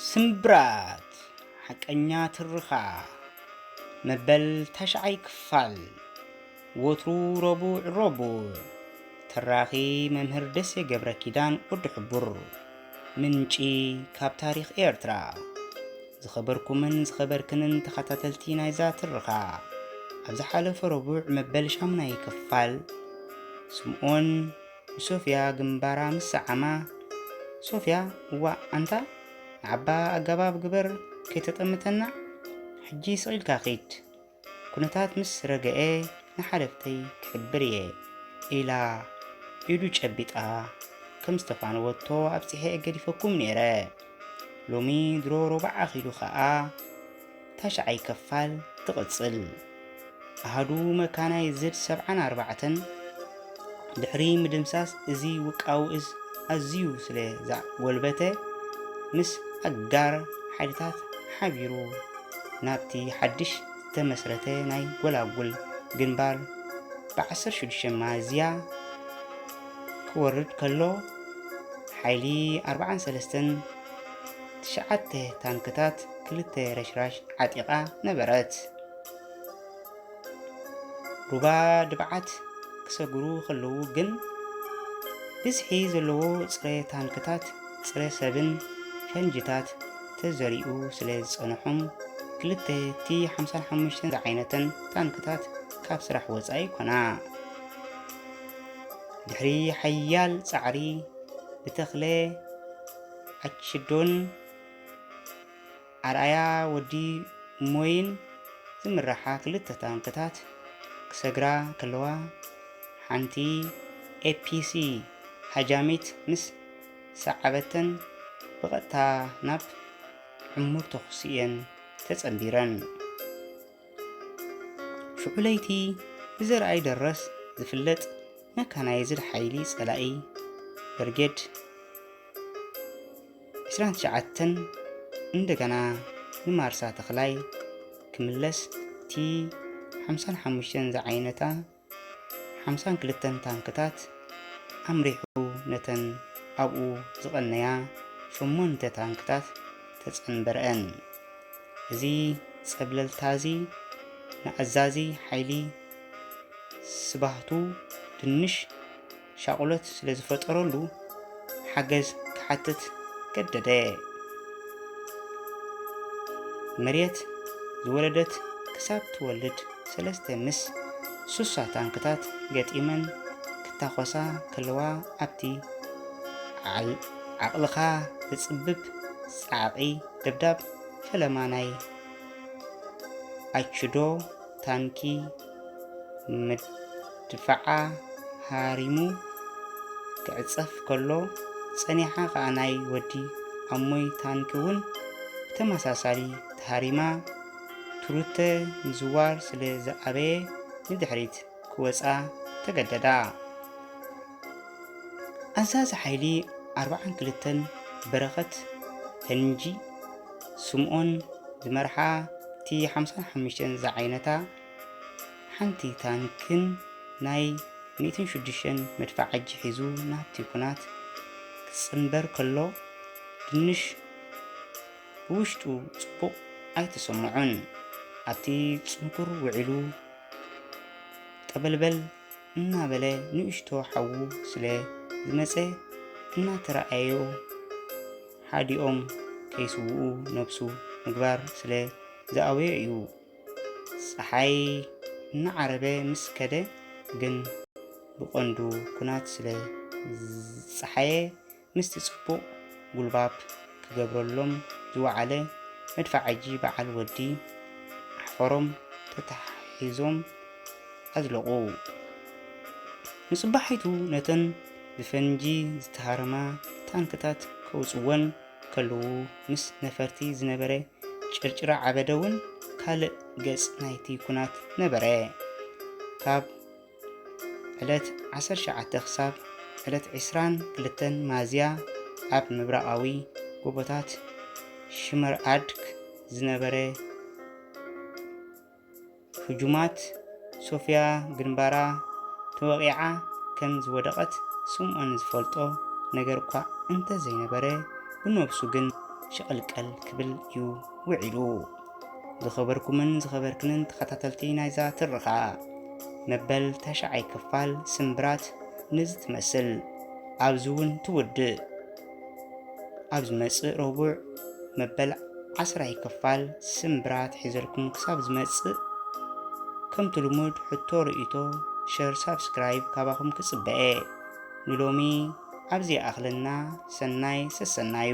ስምብራት ሓቀኛ ትርኻ መበል ታሽዓይ ክፋል ወትሩ ረቡዕ ረቡዕ ተራኺ መምህር ደሴ ገብረ ኪዳን ወዲ ሕቡር ምንጪ ካብ ታሪኽ ኤርትራ ዝኸበርኩምን ዝኸበርክንን ተኸታተልቲ ናይዛ ትርኻ ኣብ ዝሓለፈ ረቡዕ መበል ሻሙናይ ክፋል ስምኦን ንሶፍያ ግንባራ ምስ ሰዓማ ሶፍያ እዋ ኣንታ ንዓባ ኣገባብ ግበር ከይተጠምተና ሕጂ ስቒልካ ኺድ ኩነታት ምስ ረገኤ ንሓለፍተይ ክሕብር እየ ኢላ ኢዱ ጨቢጣ ከም ዝተፋነወቶ ኣብጺሐ ገዲፈኩም ነይረ። ሎሚ ድሮ ሮባዕ ኣኺሉ ከኣ ታሽዓይ ከፋል ትቕጽል። ኣሃዱ መካናይዝድ ሰብዓን ኣርባዕተን ድሕሪ ምድምሳስ እዚ ውቃዊ እዝ ኣዝዩ ስለ ዘጎልበተ ምስ ኣጋር ሓይልታት ሓቢሩ ናብቲ ሓድሽ ዝተመስረተ ናይ ጎላጉል ግንባር ብ16 ሚያዝያ ክወርድ ከሎ ሓይሊ 43ን ትሽዓተ ታንክታት ክልተ ረሽራሽ ዓጢቓ ነበረት። ሩባ ድብዓት ክሰግሩ ከለዉ ግን ብዝሒ ዘለዎ ጽረ ታንክታት፣ ጽረ ሰብን ፈንጅታት ተዘሪኡ ስለ ዝጸንሖም ክልተ ቲ ሓምሳን ሓሙሽተን ዝዓይነተን ታንክታት ካብ ስራሕ ወጻኢ ኮና። ድሕሪ ሓያል ጻዕሪ ብተኽለ ኣችዶን ኣርኣያ ወዲ ሞይን ዝምራሓ ክልተ ታንክታት ክሰግራ ከለዋ፣ ሓንቲ ኤፒሲ ሃጃሚት ምስ ሰዓበተን ብቐጥታ ናብ ዕሙር ተኹሲ'የን ተጸንቢረን። ሽዑ ለይቲ ብዘርኣይ ደረስ ዝፍለጥ መካናይዝድ ሓይሊ ጸላኢ ብርጌድ ዕስራን ትሽዓተን እንደገና ንማርሳ ተኽላይ ክምለስ እቲ ሓምሳን ሓሙሽተን ዝዓይነታ ሓምሳን ክልተን ታንክታት ኣምሪሑ ነተን ኣብኡ ዝቐነያ ሸሞንተ ታንክታት ተጸንበረአን። እዚ ጸብለልታ እዚ ንኣዛዚ ሓይሊ ስባህቱ ድንሽ ሻቕሎት ስለ ዝፈጠረሉ ሓገዝ ክሓትት ገደደ። መሬት ዝወለደት ክሳብ ትወልድ ሰለስተ ምስ ሱሳ ታንክታት ገጢመን ክታኾሳ ከለዋ ኣብቲ ዓቕልኻ ዝጽብብ ጻዕቒ ደብዳብ ፈለማ ናይ ኣችዶ ታንኪ ድፋዓ ሃሪሙ ክዕጸፍ ከሎ ጸኒሓ ከኣ ናይ ወዲ ኣሞይ ታንኪ እውን ብተመሳሳሊ ተሃሪማ ቱሩተ ምዝዋር ስለ ዝኣበየ ንድሕሪት ክወጻ ተገደዳ። ኣዛዚ ሓይሊ ኣርብዓን ክልተን በረኸት ፈንጂ ስምኦን ዝመርሓ እቲ ሓምሳን ሓሙሽተን ዝዓይነታ ሓንቲ ታንክን ናይ ሚእትን ሽዱሽተን መድፋዓጂ ሒዙ ናብቲ ኩናት ክጽንበር ከሎ ድንሽ ብውሽጡ ጽቡቕ ኣይተሰምዖን። ኣብቲ ጽንኩር ውዒሉ ጠበልበል እናበለ ንእሽቶ ሓዉ ስለ ዝመጸ እናተረኣዮ ሓዲኦም ከይስውኡ ነብሱ ምግባር ስለ ዝኣበዮ እዩ። ጸሓይ እናዓረበ ምስ ከደ ግን ብቐንዱ ኩናት ስለ ዝጸሓየ ምስቲ ጽቡቕ ጉልባብ ክገብረሎም ዝወዓለ መድፋዓጂ በዓል ወዲ ኣሕፈሮም ተተሓሒዞም ኣዝለቑ። ንጽባሒቱ ነተን ብፈንጂ ዝተሃረማ ታንክታት ከውጽወን ከለዉ ምስ ነፈርቲ ዝነበረ ጭርጭራ ዓበደ እውን ካልእ ገጽ ናይቲ ኩናት ነበረ። ካብ ዕለት 19 ክሳብ ዕለት 22 ማዝያ ኣብ ምብራቓዊ ጎቦታት ሽመርኣድክ ዝነበረ ህጁማት ሶፍያ ግንባራ ተወቒዓ ከም ዝወደቐት ስምኦን ዝፈልጦ ነገር'ኳ እንተ ዘይነበረ፣ ብነብሱ ግን ሸቐልቀል ክብል እዩ ውዒሉ። ዝኸበርኩምን ዝኸበርክንን ተኸታተልቲ ናይዛ ትረኻ፣ መበል ታሽዓይ ክፋል ስምብራት ነዚ ትመስል ኣብዚ'ውን ትውድእ። ኣብ ዝመጽእ ረቡዕ መበል ዓስራይ ክፋል ስምብራት ሒዘልኩም ክሳብ ዝመጽእ ከምቲ ልሙድ ሕቶ ርእይቶ ሸር ሳብስክራይብ ካባኹም ክጽበአ ንሎሚ ኣብዚ ኣኽለና ሰናይ ሰሰናዩ